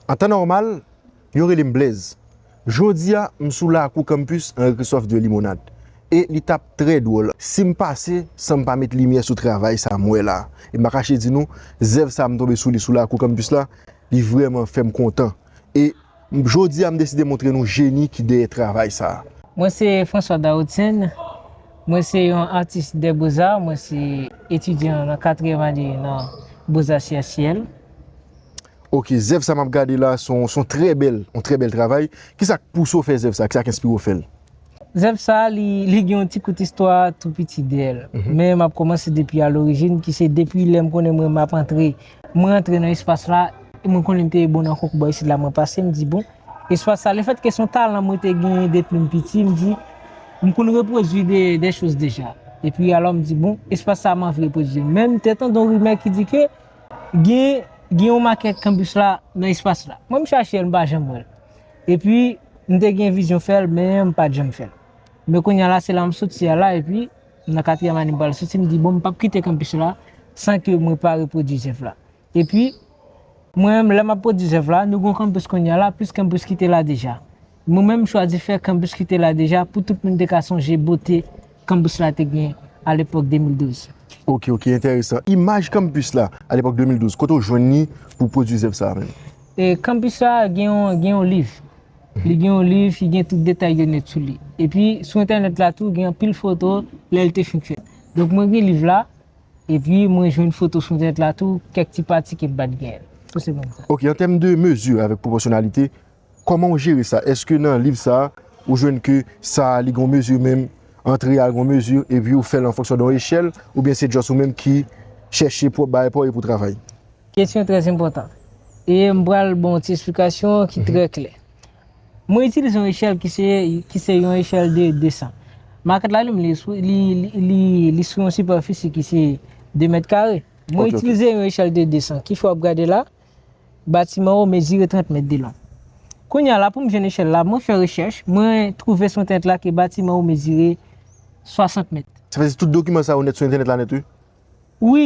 An tan nòmal, yo rele m Blèz. Jodi a, m sou lakou Campus Henri Christophe ii Limonad e li t ap trè dwòl si m pase san m pa met limyè sou travay sa m wè la. E m pa kache di nou, zèv sa m tonbe sou li sou lakou Campus la, li vrèman fè m kontan. E jodi a m deside montre nou jeni ki dèyè travay sa. Mwen se François Dautien, mwen se yon atis des beaux-arts, mwen se etidyan nan katriyèm ane nan Beaux-Arts Ciel à Ciel. Ok zèv sa map gade la son son trè bèl yon trè bèl travay kisak pouse w fè zèv sa kisak enspire w fè l. Zèv sa li li gen yon ti kout istwa tou piti dèyè l men map kòmanse depi a lorijin ki se depi lè m konnen mwen map antre mwen rantre nan espas la e mwen konnen m te bon nan konkou bò isit la mwen pase m di bon espas sa le fèt ke son talan mwen te genyen depi m piti m di m konn repwodui de dè choz deja epi alò m di bon espas sa m anvi repwodui menm te tande yon rimè ki di ke Gen gen yon makè kanbus la nan espas la. Mwen m chache l m pa janm wè l. Epi m te gen vizyon fè l men m pat janm fè l. Men kounya la se la m soti a la epi m nan katriyèm ane m pral soti m di bon m pap kite kanpis la san ke mwen pa repwodui zèv la. Epi mwen menm lè m ap pwodui zèv la nou gen yon kanpis kounya la plis kanpis ki te la deja. Mwen menm m chwazi fè kanbus ki te la deja pou tout moun te ka sonje bote kanbus la te gen a lepòk 2012. Ok ok entèresan. Imaj kanbus la a lepòk 2012, kote w jwenn li pou w pwodui zèv sa a menm? Kanbus la gen yon liv. Li gen yon liv ki gen tout detay yo nèt sou li. Epi sou entènèt la tou gen anpil foto lè li te fin fèt. Donk mwen gen liv la, epi mwen jwenn foto sou entènèt la tou, kèk ti pati ke m pa t gen. Tout se menm sa. Ok, an tèm de mezi avèk pwopòsyonalite, Kòman ou jere sa? Eske nan liv sa a ou jwenn ke sa a li gen yon mezi menm, antre a gen yon mezi epi ou fè l an fonksyon de yon echèl oubyen se just ou menm ki chèche pou bagay pa w e pou travay? Kesyon trè enpòtan. E m pral ban w ti esplikasyon ki trè klè. Mwen itilize yon echèl ki se yon echèl de 200. Makèt la li menm li sou yon sipèfisi ki se 2 mèt kare. Mwen itilize yon echèl de 200. Kif o ap gade la? Batiman an mezire 30 mèt de long. Kounye a la pou m jwenn echèl la, mwen fè rechèch, mwen twouve sou entènèt la ke batiman an mezire 60 mèt. Sa vle di tout dokiman sa yo nèt sou entènèt la nèt wi? Wi,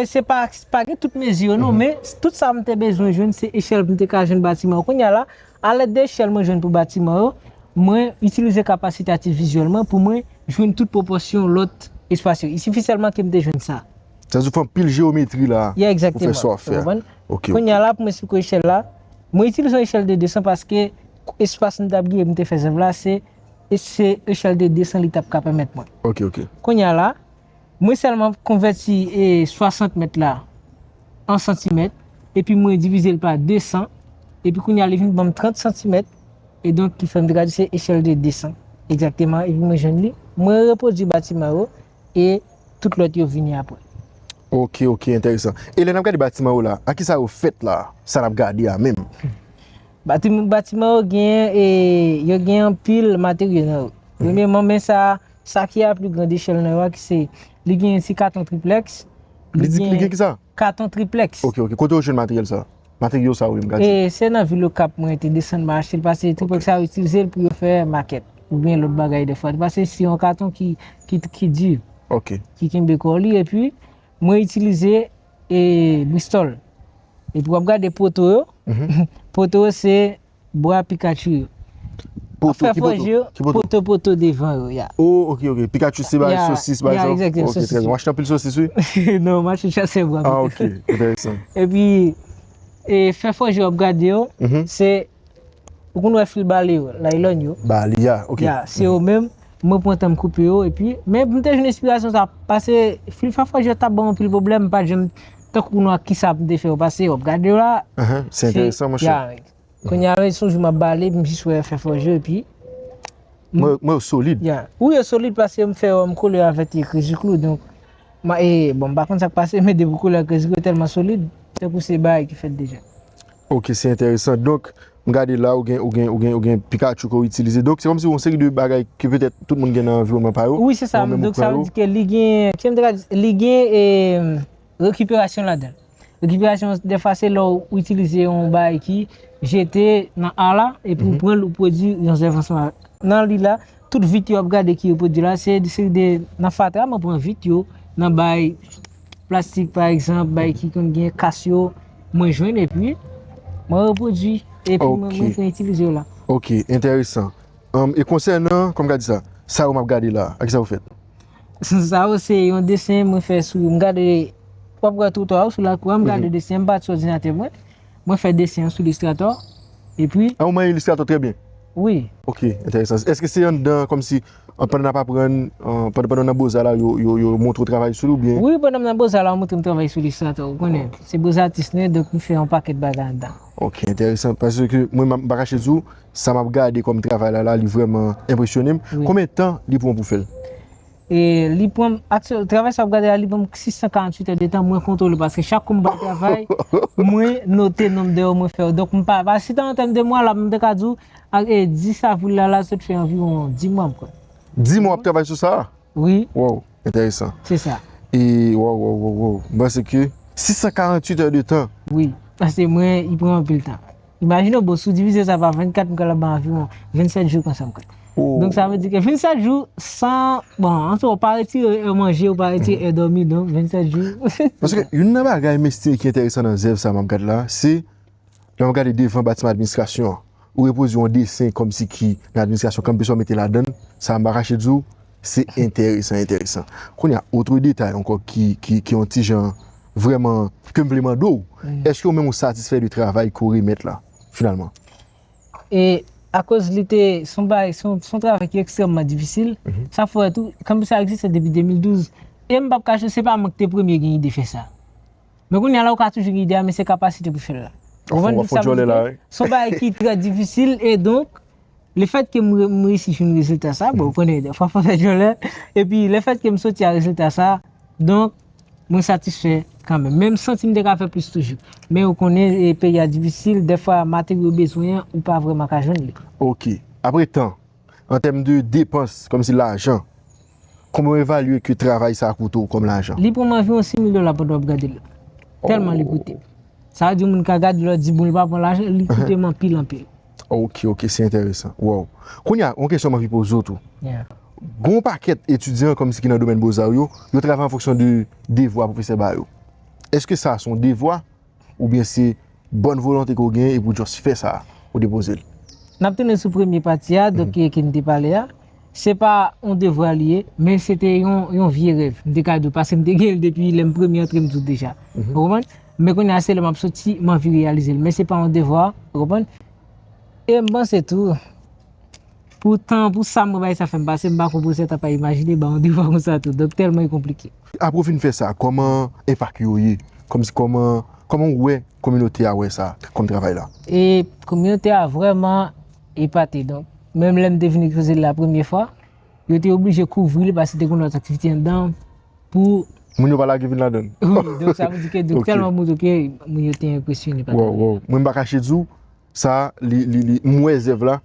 se pa gen tout mezi yo non, men tout sa m te bezwen jwenn se echèl pou m te ka jwenn batiman an. Kounye a la, a lèd de echèl mwen jwenn pou batiman yo, mwen itilize kapasite atifizyèl mwen pou mwen jwenn tout pwopòsyon lòt espas yo. I sifi sèlman ke m te jwenn sa. Sa vle di ou fè anpil jewometri la pou fè sa w ap fè a. Kounye a la pou m esplike w echèl la, mwen itilize yon echèl de 200 paske espas m t ap genyen pou m te fè zèv la se echèl de 200 li t ap ka pèmèt mwen. Kounye a la, mwen sèlman konvèti 60 mèt la an santimèt epi mwen divize l pa 200 epi kounye a li vin ban m 30 santimèt e donk ki fè m te ka di se echèl de 200 egzakteman epi mwen jwenn li. Mwen repwodui batiman yo e tout lòt yo vini apre. Ok ok entèresan. E lè nap gade batiman yo la, a kisa yo fèt la, sa nap gade a menm? Batiman batiman yo gen e yo gen anpil materyo nan yo. Premyeman men sa a, sa ki a pli grande echèl nan yo a ki se li gen ti katon triplèks, li gen Li gen kisa? Katon triplex. Ok ok kote ou jwenn materyèl sa? Materyo sa wi m ka di. E se nan vil okap mwen te desann mwen achte l pase triplex sa yo itilize l pou yo fè makèt oubyen lòt bagay defwa li pase si yon katon ki ki di ok ki kenbe kò li epi mwen itilize e bristòl epi wap gade poto yo poto yo se bwa Pikachu yo. Ap fè fòje yo, poto poto devan yo, ya. O, ok, ok. Pikachu se bay sosis, bay sa. Ya, ya, exactement, sosis. Ok, trè byen. Ou achte anpil sosis, wi? Non, m achte chase bwa. Ah, ok. Entèresan. E pi, e fè fòje yo ap gade yo, se, ou konn wè fil bale yo, laylon yo. Bale, ya, ok. Ya, se yo menm, mwen pran tan m koupe yo, e pi, men m te jwenn enspirasyon sa, pase fil fè fòje yo t ap ban m anpil pwoblèm, m pa t janm. Tankou nou ak kisa m te fè yo pase yo ap gade yo la. Se enteresan monchè. Ya rèd. Kounye a rèd son jou m ap bale m jis wè fè fòj yo epi. Mwen wè yo solid. Ya. Wi yo solid paske m fè yo m kole yo avèk ti kreziklou donk. Bon m pa konn sa k pase men depi w kole yo ak kreziklou yo tèlman solid tankou se bagay ki fèt deja. Ok se enteresan donk m gade la ou gen ou gen ou gen ou gen pikachu ke ou itilize donk se kòmsi yon seri de bagay ke petèt tout moun gen nan anviwònman pa yo wi se sa donk sa vle di ke li gen kisa m te ka di li gen rekiperasyon ladan l rekiperasyon defwa se lè ou itilize yon bagay ki jete nan a la epi ou pran l ou pwodui yon zèv ansanm avèk nan li la. Tout vit yo ap gade ki yo pwodwi la se yon seri de nan fatra mwen pran vit yo nan bay plastik pa egzanp bay ki konn gen kas yo mwen jwenn epi mwen repwodwi epi mwen mwen itilize yo la. Ok entèresan e konsènan kòm gad sa sa yo map gade la a ki sa yo fèt? Sa yo se yon desen mwen fè sou m gade wap wè twotwa yo sou lakou a m gade desen an m pati sou òdinatè mwen. Mwen fè desen an sou Illustrator epi. Ah ou manyen Illustrator trè byen? Wi. Ok, entèresan. Eske se anndan kòmsi pandan nap aprann, pandan w nan Boza la yo montre w travay sou li oubyen? Wi, pandan m nan Boza la yo montre m travay sou Illustrator. Ou konnen, se Boza atis nou ye donk nou fè yon pakèt bagay anndan. Ok, entèresan. Paske mwen m pa kache di w, sa map gade kòm travay la la li vrèman enpresyone m. Konbyen tan li pran w pou fè l? E li pranm aksyon travay sa wap gade la li pranm 648 è de tan mwen kontwole paske chak kou m bay travay mwen note nonb dè ou mwen fè yo donk m pa si tan an tèm de mwa la m ta ka di ou ak 10 avril la la sot fè anviwon 10 mwa mkwè. 10 mwa wap travay sou sa a? Wi. Waww entèresan. Se sa. E waww waww waww waww m panse ke 648 è de tan. Wi paske mwen li pranm anpil tan. Imajine w bro, si w divize sa pa 24 m pral ap bay anviwon 27 jou konsa m konn. Donk sa vle di ke 27 jou san, bon an tou w pa retire è manje, w pa retire è dòmi donk 27 jou. Paske youn nan bagay misteri ki enteresan nan zèv sa m ap gad la, se lè m ap gade devan batiman administrasyon an, ou repoze yon desen kòmsi ki nan administrasyon kanpe sa w mete ladan l, sa m pa kache di w se enteresan enteresan. Kounye a otre detay ankò ki yon ti jan. vrèman ke m vle mande w, èske ou menm ou satisfè de travay ke w remèt la finalman? E akoz li te, se yon bagay, se yon travay ki ekstrèmman difisil, sa fè tou, kanpis la egziste depi 2012, e m p ap kache w, se pa mwen ki te premye gen ide fè sa. Men kounye a la ou ka toujou gen ide a men se kapasite pou fè l la. Ou konprann sa m vle di la wi. Se yon bagay ki trè difisil e donk le fèt ke m reyisi jwenn rezilta sa, bon ou konnen dèfwa fò w fè djòlè, epi le fèt ke m soti a rezilta sa, donk. Mwen satisfè kanmenm. Men m santi m te ka fè plis toujou. Men ou konnen peyi a difisil, dèfwa materyo ou bezwen an, ou pa vrèman ka jwenn li. Ok. Apre tan, an tèm de depans, kòmsi lajan, konbyen w evalye ke travay sa a koute w kòm lajan? Li pran m anviwon 6 mil dola pandan w ap gade l. Tèlman li koute m. Sa vle di moun ka gade l, lè w di bon li pa pran lajan, li koute m anpil anpil. Ok ok se enteresan. Wow. Kounye a, yon kesyon m anvi poze w tou. Gen yon pakèt etidyan kòmsi ki nan domèn Bozar yo, yo travay an fonksyon de devwa pwofesè ba yo. Eske sa a se yon devwa oubyen se bòn volonte ke w genyen epi w just fè sa a, ou depoze l? N ap tounen sou premye pati a, donk ki n te pale a. Se pa yon devwa li ye, men se te yon vye rèv, m te ka di w, paske m te gen l depi lè m premye antre m di w deja. Ou konprann? Men kounye a se lè m ap soti m anvi reyalize l, men se pa yon devwa, ou konprann? E m panse tou, pou tan, pou sa mwen bay sa fè m pase, m pa kwè pwofesè ta pa imajine ba w yon devwa konsa tou, donk tèlman e konplike. Apre w fin fè sa, kòman enpak yo ye? Kòmsi, kòman, kòman w wè kominote a wè sa, kòm travay la? E kominote a vrèman. Epate donk, menm lè m te vin ekspoze l la premye fwa, yo te oblije kouvri l paske te gen lòt aktivite anndan pou. Moun yo pa lage vin ladan l. Wi, donk sa vle di ke donk tèlman moun yo te, moun yo te enpresyone pa. Wòw, wòw. Mwen m pa kache di w, sa a li, li, li, m wè zèv la,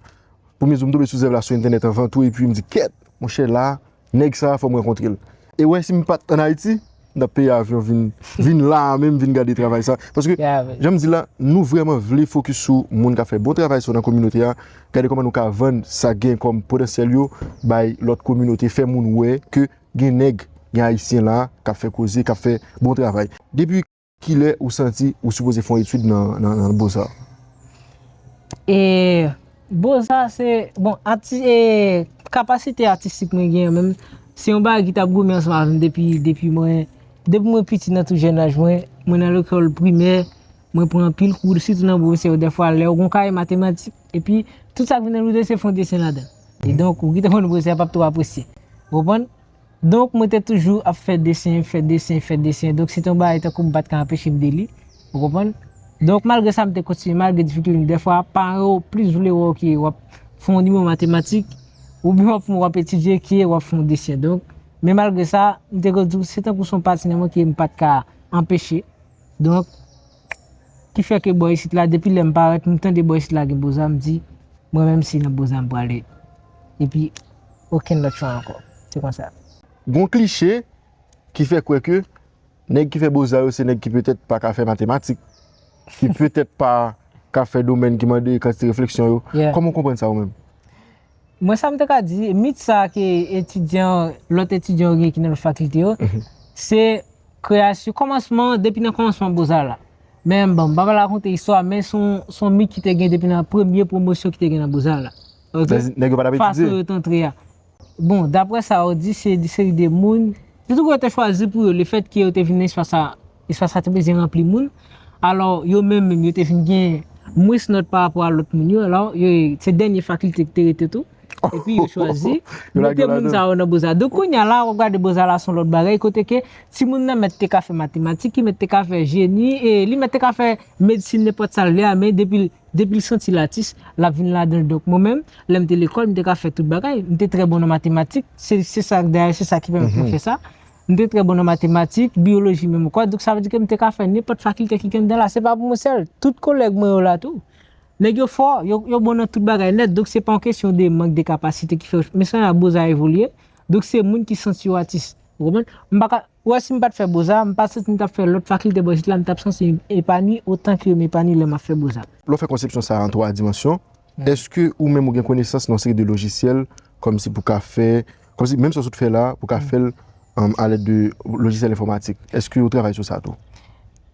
premye jou m tonbe sou zèv la sou entènèt anvan tou epi m di kèt! Monchè la. Nèg sa fòm rankontrel. E wè sim pat an Ayiti m tap peye avyon vin vin la a menm vin gade travay sa paske janm di la nou vrèman vle fokis sou moun kap fè bon travay sa nan kominote a gade kòman nou ka vann sa gen kòm potansyèl yo bay lòt kominote fè moun wè ke gen nèg gen ayisyen la kap fè koze kap fè bon travay depi Kilè ou santi ou sipoze fè yon etid nan boza? E boza se, bon, kapasite atistik mwen gen menm, se yon bagay ki tap goumen ansanm avèm depi, depi mwen, depi mwen piti nan tou jèn laj mwen, mwen nan lekòl primè, mwen pran anpil kou, sitou nan bwofesè yo dèfwa lè ou gon kaye matematik, epi tout sa ki vin nan liv la se fon desen ladan. Kidonk ou ki te konn bwofesè a pap twò apresye. Ou konprann? Donk mwen te toujou ap fè desen, fè desen, fè desen. Donk se te yon bagay tankou m pa t ka anpeche m de li. Ou konprann? Donk malgre sa m te kontinye, malgre difikilte m. Dèfwa paran yo plis vle wè w ke w ap fè yon nivo matematik oubyen w ap fè yon w ap etidye ke w ap fè yon desen. Donk, men malgre sa, m te toujou di w se tankou se yon pati nan mwen ke m pa t ka anpeche. Donk. Ki fè ke bò isit la depi lè m parèt m tande bò isit la gen Boza m di mwen menm se nan Boza m prale epi okenn lòt chwa ankò. Se konsa. Gon kliche ki fè kwè ke nèg ki fè Boza yo se nèg ki petèt pa ka fè matematik, ki petèt pa ka fè domèn ki mande kantite refleksyon yo. Kòman w konprann sa ou menm? Mwen sa m te ka di, mit sa ke etidyan, lòt etidyan yo gen ki nan lòt fakilte yo, se kreyasyon, kòmansman, depi nan kòmansman Boza la. Men, bon, m pa pral rakonte istwa, men se yon mit ki te gen depi nan premye pwomosyon ki te gen nan Boza la. Ok? Nèg yo pa t ap etidye. Fason yo te antre a. Bon, dapre sa yo di, se yon seri de moun, se tout kote yo te chwazi pou yo, lefètke yo te vin nan espas sa. Espas la te bezwen ranpli moun. Alò, yo menm menm yo te vin gen mwens nòt pa rapò a lòt moun yo. Alò, yo se dènye fakilte ki te rete tou. Epi yo chwazi mete moun sa yo nan boza. Donk kounye a la, w ap gade boza la se yon lòt bagay kote ke timoun nan mèt te ka fè matematik, li mèt te ka fè jeni, li mèt te ka fè medsin, nenpòt sa l vle a men depi l depi l santi l atis, l ap vin ladan l. Donk mwen menm, lè m te lekòl, m te ka fè tout bagay. M te trè bon nan matematik. Se sa dayè se sa ki pèmèt mwen fè sa. M te trè bon nan matematik, biyoloji menm kwa, donk sa vle di ke m te ka fè nenpòt fakilte ki genn dan la. Se pa pou mwen sèl, tout kolèg mwen yo la tou. Nèg yo fò, yo bon nan tout bagay nèt, donk se pa yon kesyon de mank de kapasite ki fè yo chwa. Men se jan boza evolye, donk se moun ki santi yo atis. Ou konprann? M pa ka, ou wè si m pa t fè boza, m pa santi m t ap fè lòt fakilte bò isit la, m t ap santi m epanwi otan ke m epanwi lè m ap fè boza. Lè w fè konsepsyon sa a an twa dimansyon, Eske ou menm ou gen konesans nan yon seri de lojisyèl kòmsi pou ka fè, kòmsi menm sa ou sot fè la pou ka fèl a lèd de lojisyèl enfòmatik? Eske ou travay sou sa tou?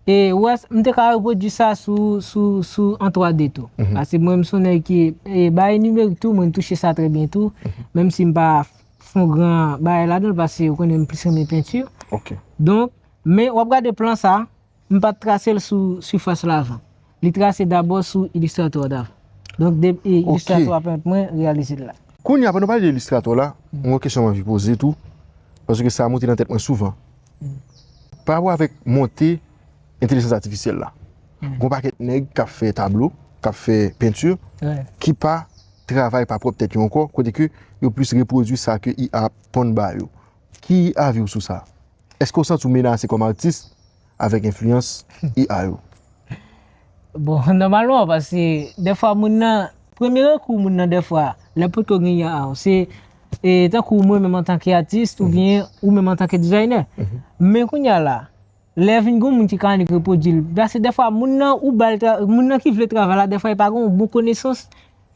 E ou wè, m te ka repwodui sa sou, sou, sou an 3D tou. Pase mwen m s on nèg ki, e bagay nimerik tou mwen touche sa trè byen tou, menm si m pa fon gran bagay ladan l pase ou konnen m plis renmen penti. Ok. Donk, men w ap gade plan sa. M pa t trase l sou sifas la avan. Li trase dabò sou Illustrator an avan. Donk de Illustrator ap pèmèt mwen reyalize l la. Kounye a pandan w pale de Illustrator la, m gen yon kesyon m anvi poze tou, paske sa monte nan tèt mwen souvan. Pa rapò avèk monte entelijans atifisyèl la, gen yon pakèt nèg k ap fè tablo, k ap fè penti, ki pa travay pa pwòp tèt yo ankò, kote ke yo plis repwodui sa ke IA ap ponn ba yo. Ki avi w sou sa? Eske ou santi w menase kòm atis avèk enfliyans IA yo? Bon, nòmalman paske dèfwa moun nan, premye rekou moun nan dèfwa lè l potko gen IA a se tankou mwen menm antanke atis oubyen ou menm antanke dizaynè. Men kounye a la, lè vin gen yon moun ki ka annik repwodui l, paske dèfwa moun nan ou ba l, moun nan ki vle travay la dèfwa li pa gen yon bon konesans.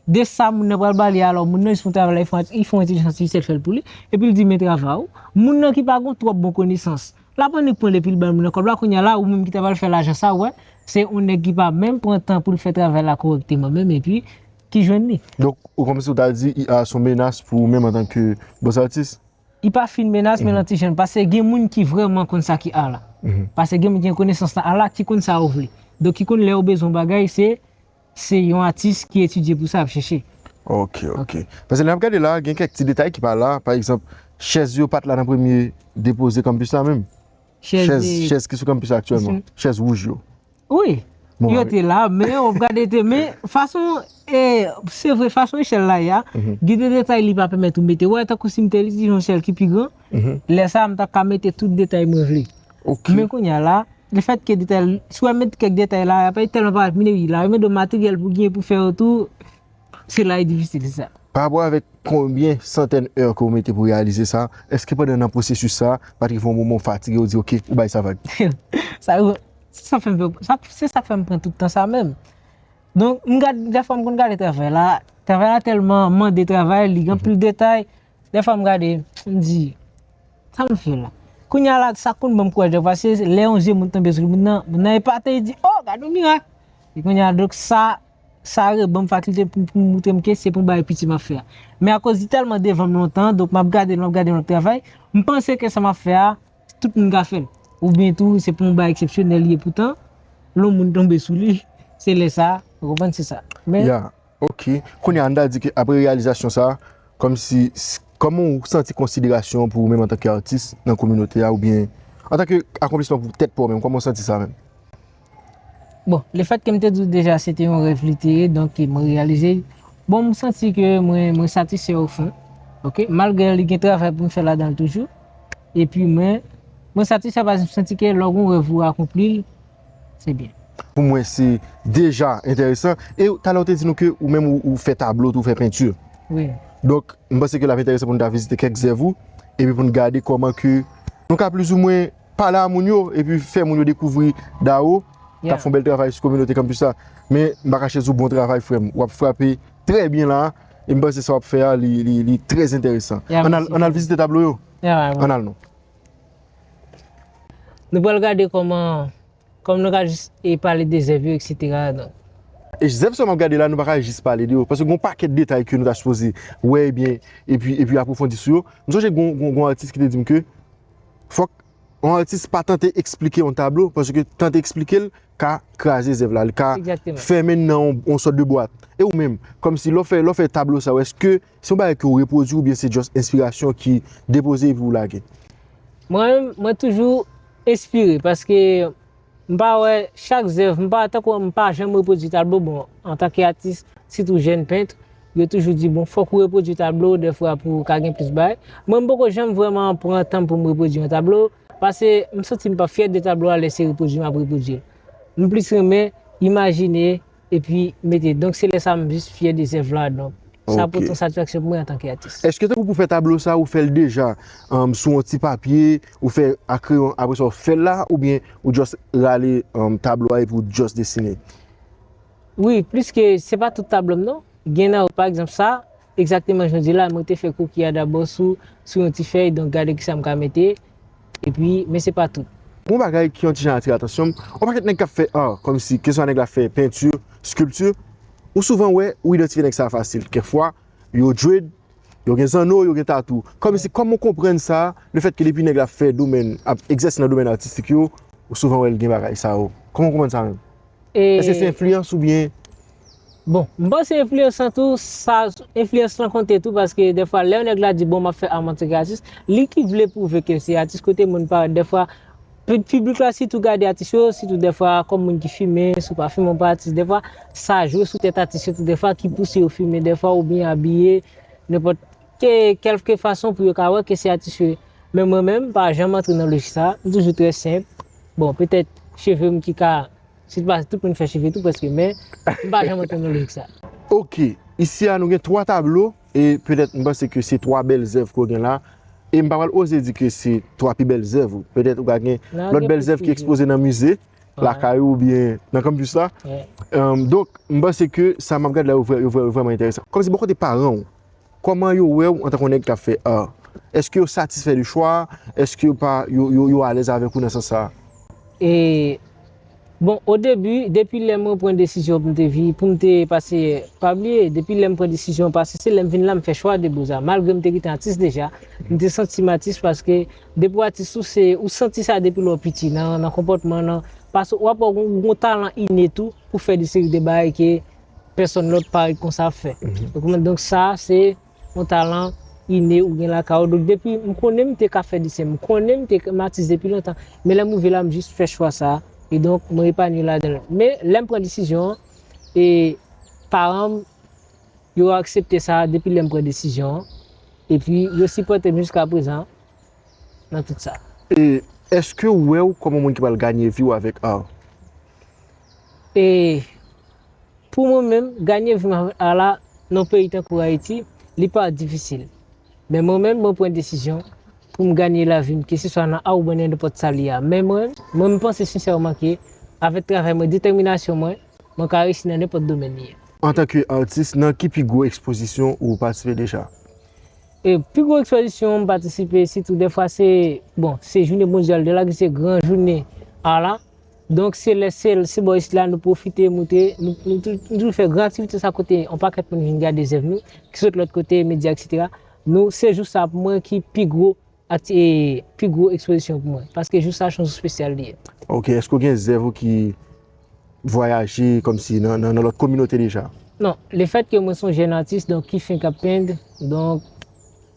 De sa moun nan pral pale alò moun nan jis fon travay la li fon entèlijans atifisyèl fèl pou li epi li di men travay ou moun nan ki pa gon twòp bon konesans lap annik pranl epil bay moun nan kòb la kounya la ou menm ki ta pral fè lajan sa ou wè se on nèg ki pa menm pran tan poul fè travay la korèkteman menm epi ki jwenn li. Donk ou kòmsi ou ta di IA son menas pou ou menm antan ke bòs atis? Li pa fin menas men l antijen pase gen moun ki vrèman konn sa ki ar la pase gen moun ki gen konesans nan ar la ki konn sa yo vle donk ki konn lè yo bezwen yon bagay se Se yon atis ki etidye pou sa ap chèche. Ok, ok. Pase lè nap gade la, gen kèk ti detay ki pa la, pa egzanp, chèz yo pat la nan premye depoze kanpis la menm. Chèz, chèz ki sou kanpis la aktyèlman, chèz wouj yo. Wi, yo te la, men wap gade te, men fason e, se vre fason echèl la ye a, gen de detay li pa pèmèt ou mete, wè tankou si m te li, se yon echèl ki pi gran. lè sa a m ta ka mete tout detay mwen vle. Men kounye a la, le fèt ke detay, si wè met kèk detay la, apre li tèlman parèt mine wi, la remèt do materyèl pou genyen pou fè yo tou, se la li difisil, se sa. Pa rapò avèk konbyen santèn èr ke ou mete pou reyalize sa, èske pandan nan pwosesis sa, pa t rive yon moman ou fatige, ou di ok, ou bay sa vag? Sa rive, se sa k fè m fè, se sa k fè m pran tout tan sa menm. Donk m gad, dèfwa m konn gade travay la, travay la tèlman mande travay, li gen anpil detay, Dèfwa m gade, m di, sa m fè la? Kounye a la, sa konn ban m kouraj dèfwa, se lè yon je moun tonbe sou moun nan, moun nan epate, li di, o, gad yon mirak! E kounye a, donk sa, sa reban m fakilte pou m montre m ke se pou m bay piti m ap fè a. Men akoz li tèlman devan m lontan, donk m ap gade l, m ap gade l, m ap travay, m panse ke sa m ap fè a, tout moun ka fè l. Oubyen tou, se pou yon bagay eksepsyonèl li ye, poutan, lè yon moun tonbe sou li, se lè sa, ou konprann, se sa. Men. Ya, Ok, kounye a n ta di ke apre reyalizasyon sa, kòmsi, kòman ou santi konsiderasyon pou ou menm antanke atis nan kominote a oubyen antanke akonplisman pou tèt pa w menm, kòman w santi sa menm? Bon, le fèt ke m te di w deja se te yon rèv li te ye, donk mwen reyalize l, bon m santi ke mwen satisfè o fon, ok, malgre li gen travay pou m fè ladan l toujou, epi mwen satisfè paske m santi ke lè w gen yon rèv ou akonpli l, se byen. Pou mwen se deja enteresan. E talè ou te di nou ke ou menm ou fè tablo tou, ou fè penti. Wi. Donk, m panse ke l ap enteresan pou nou ta vizite kèk zèv ou, epi pou nou gade kòman ke nou ka plizoumwen pale a moun yo, epi fè moun yo dekouvri Daro k ap fè yon bèl travay sou kominote kanpis la. Men, m pa kache di w bon travay frè m. W ap frape trè byen la a, e m panse sa w ap fè a li trè enteresan. An n al vizite tablo yo? An n al non. Nou pral gade kòman, kòm nou ka jis e pale de zèv yo eksetera donk. E zèv sa yo m ap gade la nou pa ka jis pale de yo paske gen yon pakèt detay ke nou ta sipoze wè ebyen epi epi apwofondi sou yo. M sonje gen yon gen yon atis ki te di m ke fòk yon atis pa tante eksplike yon tablo paske tante eksplike l ka kraze zèv la, li ka fèmen nan yon sòt de bwat. E ou menm, kòmsi lè w fè lè w fè tablo sa yo èske Se yon bagay ke ou repwodwi oubyen se just enspirasyon ki depoze epi ou lage? Mwen menm, mwen toujou enspire paske m pa wè chak zèv, m pa tankou m pa janm repwodwi tablo, bon antanke atis sitou jèn pent, yo toujou di bon fòk ou repwodwi tablo dèfwa pou ou ka gen plis bagay. Mwen m poko janm vrèman pran tan m pou m repwodwi yon tablo pase m santi m pa fyè de tablo a lè se repwodwi m ap repwodwi l. M plis renmen imajine. Epi mete donk se lè sa m jis fyè de zèv la donk sa pou otan satisfaksyon pou mwen antanke atis. Eske tankou pou fè tablo sa ou fèl deja sou yon ti papye ou fè a kreyon apresa ou fèl la oubyen ou just rale tablo a epi ou just desine? Wi pliske se pa tout tablo m non gen nan yo pa egzanp sa Egzakteman jan w di la, mwen te fè koki a dabò sou sou yon ti fèy, donk gade kisa m ka mete, epi, men se pa tout. Yon bagay ki yon ti jan atire atansyon m, yon pakèt nèg k ap fè art, kòmsi, keswa nèg la fè peinture, sculpture, ou souvan wè, ou idantifye nèg sa a fasil, kèk fwa, yo dread, yo gen zanno, yo gen tatoo, kòmsi, kòman w konprann sa, lefètke depi nèg la fè domèn, ap egzèse nan domèn atistik yo, ou souvan wè l gen bagay sa yo, kòman w konprann sa menm? Eske se enfliyans oubyen? Bon, m panse enfliyans lan tou, sa, enfliyans lan konte tou paske dèfwa lè yon nèg la di bon m ap fè art m antanke yon atis, li ki vle pwouve ke l se atis kote moun parèt dèfwa, piblik la sitou gade atis yo, sitou dèfwa kòm moun ki fime, si w pa fime w pa atis dèfwa, sa jwe sou tèt atis yo tou dèfwa ki pouse yo fime dèfwa oubyen abiye nenpòt ke kelke fason pou yo ka wè ke se atis yo ye. Men mwen menm m pa janm antre nan lojik sa, m toujou trè senp, bon petèt cheve m ki ka, se pa tout moun ki fè cheve tou prèske men m pa janm antre nan lojik sa. Ok, isi a nou gen 3 tablo e petèt m panse ke se 3 bèl zèv ke w gen la e m pa pral oze di ke se 3 pi bèl zèv ou, petèt ou ka gen lòt bèl zèv ki ekspoze nan mize lakay ou oubyen nan kanmpis la donk m panse ke sa m ap gad la yo vrèman enteresan. Kòmsi bò kote paran w, Kòman yo wè ou antan kon nèg kap fè art? Eske yo satisfè de chwa a? Eske yo pa, yo alèz avèk ou nan sans sa a? E, bon, o debi, depi lè mwen pran desizyon pou m te vi, pou m te, pase, pa bliye, depi lè m pran desizyon pase, se lè m vin la m fè chwa de boza. Malgre m te gentan atis deja, m te santi m atis paske depi w atis ou se, ou santi sa depi lè w piti, nan, nan konpòtman, nan, paske wap wè w gen yon talan inne tou pou fè de seri de bagay ke. Pèsòn lòt parèt konsa ap fè. Donk sa se yon talan ine ou gen lakay ou. Donk depi m konnen m te ka fè desen, m konnen m te m atis depi lontan. Men lè m rive la m jis fè chwa sa. E donk mwen epanye ladan l. Men lè m pran desizyon an, e paran m yo aksepte sa depi lè m pran desizyon an. E pi yo sipòte m jiska prezan nan tout sa. E eske ou wè ou kòm yon moun ki pral ganye vi ou avèk ar? E pou mwen menm, ganye viv avèk Allah nan peyi tankou Ayiti, li pa difisil. Men mwen menm, mwen pran desizyon pou m ganye lavi m, keseswa nan a oubyen nan nenpòt sa li a. Men mwen, mwen m panse sensèman ke avèk travay mwen, detèminasyon mwen, mwen ka reyisi nan nenpòt domèn li ye. Antanke atis, nan ki pi gwo ekspozisyon ou patisipe deja? E pi gwo ekspozisyon m patisipe sitou dèfwa se, bon, se jounen mondyal de la, ki se gran jounen Allah, Donk se lè se se bò isit la nou pwofite moute, nou nou toujou fè gran aktivite sa kote yon pakèt moun vin gade zèv nou, ki sot lòt kote, medya eksetera. Nou se jou sa pou mwen ki pi gwo akti e pi gwo ekspozisyon pou mwen. Paske jou sa son jou spesyal li ye. Ok, èske ou gen zèv ou ki vwayaje kòm si nan nan lòt kominote deja? Non, le fèt ke mwen son jèn atis donk ki fenk ap pend, donk.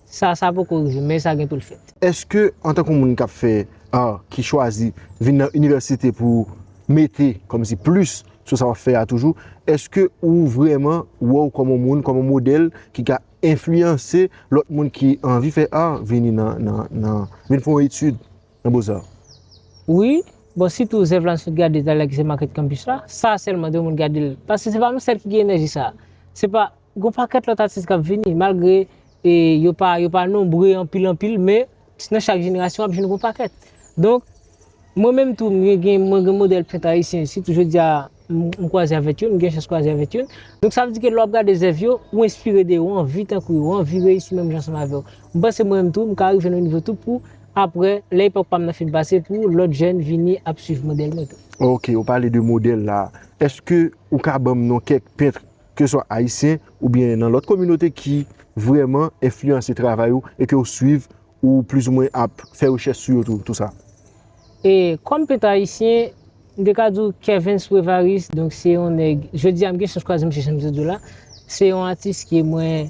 Sa sa poko rive men sa gen pou l fèt. Eske antankou moun kap fè art ki chwazi vin nan inivèsite pou ou mete kòmsi plis sou sa wap fè a toujou eske ou vrèman wè w kòm on moun kòm on modèl ki ka enfliyanse lòt moun ki anvi fè art vini nan vin fè yon etid nan Beaux Arts? Wi, bon sitou zèv la sot gade talè ki se Market Campus la, sa sèlman 2 moun gade l paske se pa m sèl ki gen enèji sa. Se pa Gon pakèt lòt atis kap vini malgre yo pa yo pa nonbre anpil anpil men nan chak jenerasyon wap jwenn gon pakèt. Donk mwen menm tou mwen gen mwen gen modèl pent ayisyen sitou jodi a m kwaze avèk youn, m gen chans kwaze avèk youn. Donk sa vle di ke lè wap gade zèv yo, ou enspire de yo, ou anvi tankou yo, ou anvi reyisi menm jan ansanm avè yo. M panse mwen menm tou m ka rive nan yon nivo tou pou aprè lè epòk pa m nan fin pase pou lòt jèn vini ap swiv modèl mwen tou. Ok, ou pale de modèl la. Eske ou ka banm non kèk pentre ke swa ayisyen ou byen nan lòt kominote ki vrèman enfliyanse travay ou e ke ou swiv ou plis ou mwen ap fè rechèch sou yo tou, tou sa? E kòm pent ayisyen, m te ka di w Kervens Prevaris, donk se yon nèg, jodi a m gen chans kwaze misye jan m te di w la, se yon atis ke mwen,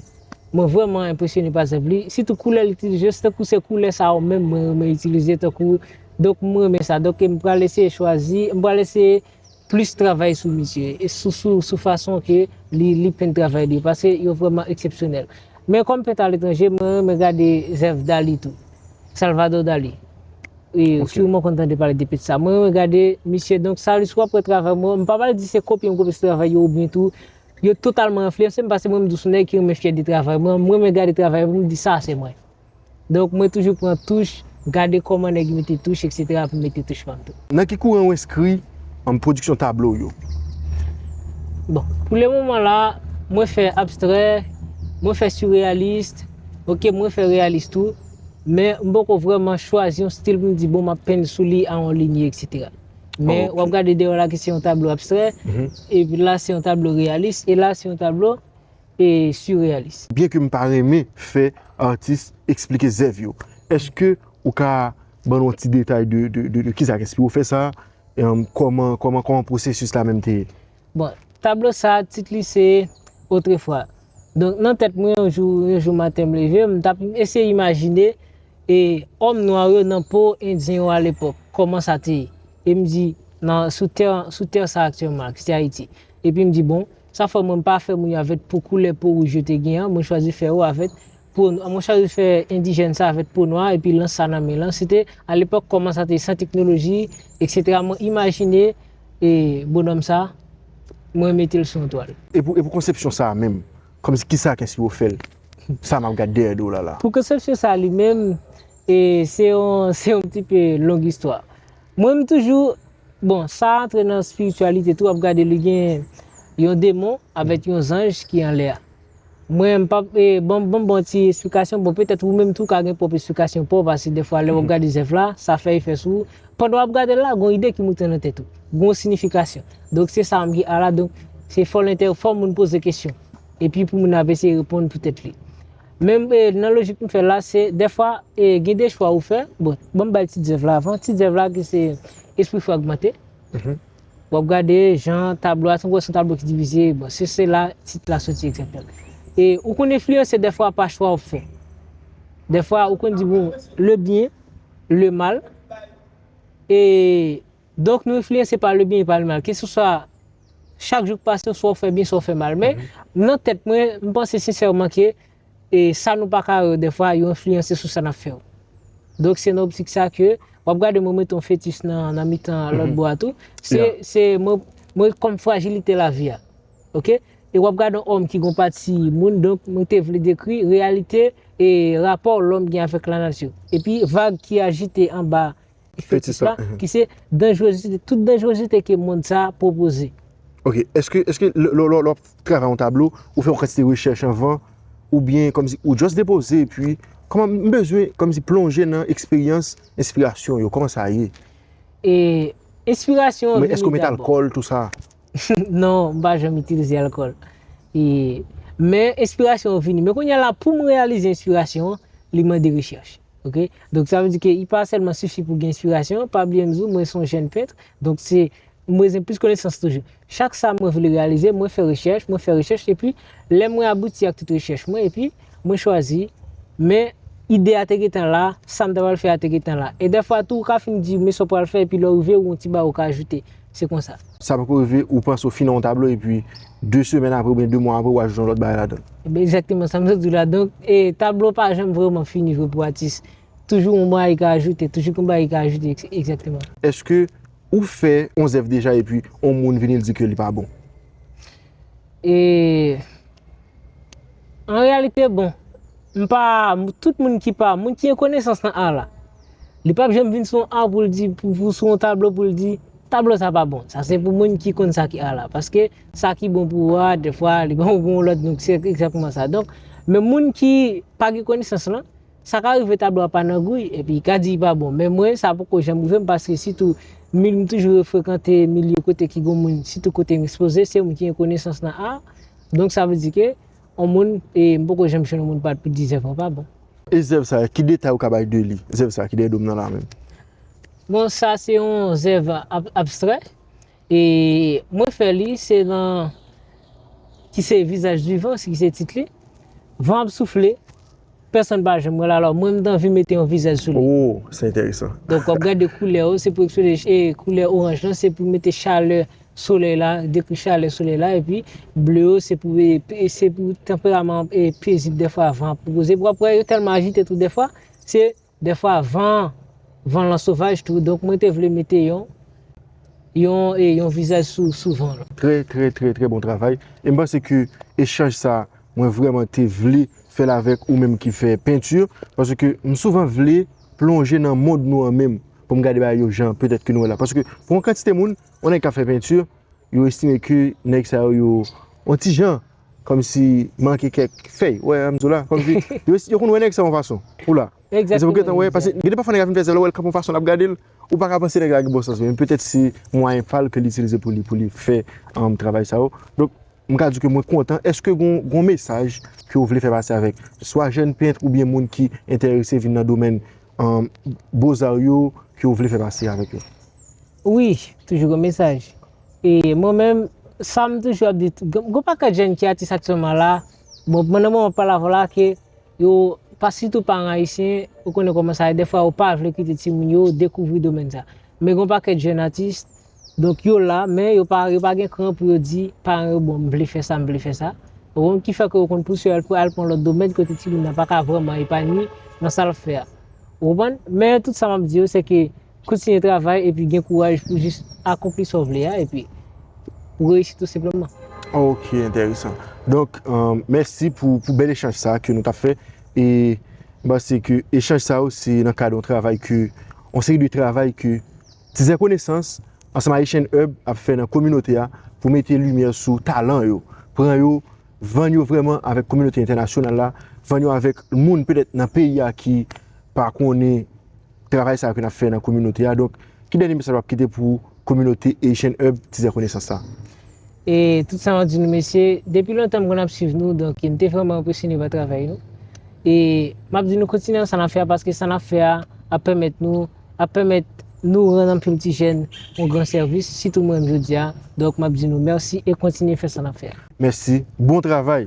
mwen vrèman enpresyone pa zèv li, sitou koulè l itilize yo, se tankou se koulè sa yo menm mwen renmen itilize tankou, donk m renmen sa, donk m pral eseye chwazi, m pral eseye plis travay sou misye e sou fason ke li pent travay li yo paske yo vrèman eksepsyonèl men kòm pent aletranje mwen renmen gade zèv Dali tou Salvador Dali wi siwman konn tande pale de pent sa mwen renmen gade misye donk sa lè si wap wè travay mwen m pa pral di se kopye m kopye se travay yo oubyen tou yo totalman enfliyanse m paske mwen m tou son nèg ki renmen fyè de travay mwen m renmen gade travay m pou m di sa se mwen. Donk mwen toujou pran touch, gade kòman nèg yo mete touch etc pou m mete touch pa m tou. Nan ki kouran ou enskri an pwodiksyon tablo w yo? Bon, pou le moman la, mwen fè abstrè, mwen fè surrealist, ok, mwen fè realist tou, men m poko vrèman chwazi yon stil pou m di bon m ap penn sou li a yon linye etc. Men w ap gade dèyè w la ki se yon tablo abstrè, epi la se yon tablo realist, e la se yon tablo. e surrealis. Byen ke m pa renmen fè atis esplike zèv yo, eske ou ka ban nou ti detay de kisa k enspire w fè sa? Kòman pwosesis la menm te ye? Bon, tablo sa a tit li se Autrefois. Donk nan tèt mwen yon jou, yon jou maten m leve, m tap eseye imajine e òm nwa yo nan po endyen yo a lepòk, kòman sa te ye. E m di nan sou tè, sou tè sa aktyèlman, ki se Ayiti. Epi m di bon, Sa fè mwen pa fè moun yo avèt pou koulè po wouj yo te gen an, mwen chwazi fè yo avèt po nwa. Mwen chwazi fè endijèn sa avèt po nwa epi lans sa nan men lan. Se te a lepòk kòman sa te san teknoloji eksetera mwen imajine e bonòm sa mwen mete l sou yon twal. E pou konsepsyon sa menm, kòmsi ki sa k enspire fè l? Sa m ap gad dèyè do w la la. Pou konsepsyon sa li menm, e se yon se yon pti pe long istwa. Mwen m toujou Bon sa a antre nan spiritualité tou wap gade li gen Yon demon avèt Yon zanj ki anlè a Mwen m pap bon bon bon ti esplikasyon bon petèt ou menm tou ka gen pwòp esplikasyon paw pase dèfwa lè wap gade zèv la sa fè efè sou ou pandan wap gadel la gon ide ki moute nan tèt ou gon sinifikasyon donk se sa mgi ala donk se fòl entè fò moun poze kesyon epi pou moun ap eseye reponn pou tèt li. Men nan lojik m fè l la, se dèfwa gen de chwa ou fè, bon, ban m bay ti zèv la avan, ti zèv la ki se Espri Fragmante, w ap gade jan tablo a, se yon tablo ki divize, bon, se se la tit la soti egzakteman. E ou konn enfliyanse dèfwa pa chwa w ap fè. Dèfwa ou konn di bon, le byen, le mal, e. Donk nou enfliyanse pa le byen e pa le mal. Keseswa chak jou k pase oswa ou fè byen oswa ou fè mal. Men nan tèt mwen, m panse sensèman ke e sa nou pa ka wè yo dèfwa yo enfliyanse sou sa n ap fè yo. Donk se nan optik sa ke w ap gade mwen mete yon fetis nan mitan lòt bò a tou. Se, se mwen, mwen kòm frajilite lavi a. Oke? E w ap gade yon òm ki gen yon pati moun donk mwen te vle dekri reyalite e rapò lòm gen avèk lanati. Epi vag ki ajite anba. Fetis la, ki se danjrezite, tout danjrezite ke mond sa a pwopoze. Ok, eske, eske lè w ap travay yon tablo, ou fè yon kantite rechèch anvan, oubyen kòmsi ou just depoze epi, kòman, m bezwen kòmsi plonje nan eksperyans enspirasyon yo, kòman sa ye? E, enspirasyon an vini dabò. Mwen eske w met alkòl, tou sa? Non, m pa janm itilize alkòl. E, men enspirasyon an vini. Men kounye a la, pou m reyalize enspirasyon an, li mande rechèch. Ok? Donk sa vle di ke li pa sèlman sifi pou gen enspirasyon, pa bliye m di w, mwen se yon jèn pent, donk se, m bezwen plis konesans toujou. Chak sa mwen vle reyalize, mwen fè rechèch, mwen fè rechèch, epi, lè mwen abouti ak tout rechèch mwen, epi, mwen chwazi, men, ide a te gentan la, sa m ta pral fè a te gentan la. E dèfwa tou, ou ka fin di, men sa w pral fè, epi lè w rive, ou gen yon ti bagay ou ka ajoute. se konsa. Sa poko rive ou panse ou fin nan yon tablo epi 2 semèn apre oubyen 2 mwa apre ou ajoute yon lòt bagay ladan l. Ebyen egzakteman sa m sot di w la donk e tablo pa janm vrèman fini vre pou atis toujou yon bagay ka ajoute toujou gen bagay ki ka ajoute egzakteman. Eske ou fè yon zèv deja epi yon moun vini l di ke li pa bon? E an reyalite bon, m pa, tout moun ki pa, moun ki gen konesans nan ar la, li pap janm vin sou yon ar pou l di, pou sou yon tablo pou l di, tablo sa pa bon. Sa se pou moun ki konn sa ki ar la. Paske sa ki bon pou ou a, defwa li bon pou yon lòt, donk se egzatman sa. Donk, men moun ki pa gen konesans lan, Sa ka rive tablo a pa nan gouy epi i ka di i pa bon men mwen sa poko janm rive m paske sitou mil m toujou refrekante milye kote ki gon moun sitou kote m ekspoze se moun ki gen konesans nan ar donk sa vle di ke on moun e m poko janm jwenn on moun pa di zèv mwen pa bon. E zèv sa ki detay ou ka bay de li zèv sa ki dèyè dom nan la menm? Bon sa se on zèv abstrè E mwen fè li, se nan ki se vizaj di van, se ki se tit li. Van ap soufle, pèsonn pa janm wè l, alò mwen m t anvi mete yon vizaj sou li. O, se enteresan. Donk w ap gade koulè yo, se pou ekspoze e koulè oranj lan se pou mete chalè solèy la, dekri chalè solèy la epi ble yo se pou e se pou tanperaman e pezib dèfwa van ap pwopoze. W ap wè yo tèlman ajite tou dèfwa, se. Dèfwa van an, van lan sovaj tou, donk mwen te vle mete yon, yon e yon vizaj sou, sou van lan. Trè, trè, trè, trè bon travay. E m panse ke echanj sa a, mwen vrèman te vle fè l avèk ou menm ki fè penti, paske m souvan vle plonje nan mond nou an menm, pou m gade bagay yo jan petèt ke nou wè la. Paske pou yon kantite moun, yon nèg k ap fè penti, yo estime ke nèg sa yo, yo yon ti jan, Kòmsi manke kèk fèy. Wè Amzou la. Kòmsi yo konn wè nèg sa yon fason. Ou la. Egzatteman. Se pou gentan wè. Pase gen de pafwa nèg a fin fè sa lè ou wèl kanpe yon fason lap gadel. Ou pa ka panse nèg la gen bon sans men petèt se mwayen pal ke li itilize pou li pou li fè travay sa yo. Donk mka di ke mwen kontan. Eske gon mesaj ke ou vle fè pase avèk swa jèn pent ou byen moun ki entèrese vin nan domèn Beaux Arts yo ke ou vle fè pase avèk yo? Wi, toujou gon mesaj. E mwen menm sam toujou ap di gon pakèt jèn ki atis aktyèlman la, bon nan moman pale avèw la ke yo pa sitou paran ayisyen ou konnen kòman sa ye dèfwa yo pa vle kite timoun yo dekouvri domèn sa. Men gon pakèt jèn atis donk yo la men yo pa yo pa gen kran pou yo di paran yo bon m vle fè sa m vle fè sa ou konn ki fè ke yo konn pouse al pou al pran lòt domèn kote timoun nan pa ka vrèman epanye nan sa lap fè a ou konprann men tout sa map di yo se ke Kontinye travay epi gen kouraj pou jis akonpli sa w vle a epi pou reyisi tou senpleman. Ok enteresan. Donk mèsi pou bèl echanj sa ke nou tap fè e m panse ke echanj sa yo se nan kad yon travay ke yon seri de travay ke Tizè Konesans ansanm ak Haitian Hub ap fè nan kominote a pou mete limyè sou talan yo, pran yo, vann yo vrèman avèk kominote entènasyonal la, vann yo avèk moun petèt nan peyi a ki pa konnen. travay sa yo ke n ap fè nan kominote a. Donk, ki dènye mesaj w ap kite pou kominote Haitian Hub Tizè Konesans la? E tout sa map di nou mesye, depi lontan m konn ap swiv nou, donk m te vrèman enpresyone pa travay nou. E map di nou kontinye nan sa nap fè a paske sa nap fè a ap pèmèt nou, ap pèmèt nou rann anpil ti jèn yon gran sèvis, sitou mwen menm jodi a. Donk map di nou mèsi e kontinye fè sa nap fè a. Mèsi, bon travay!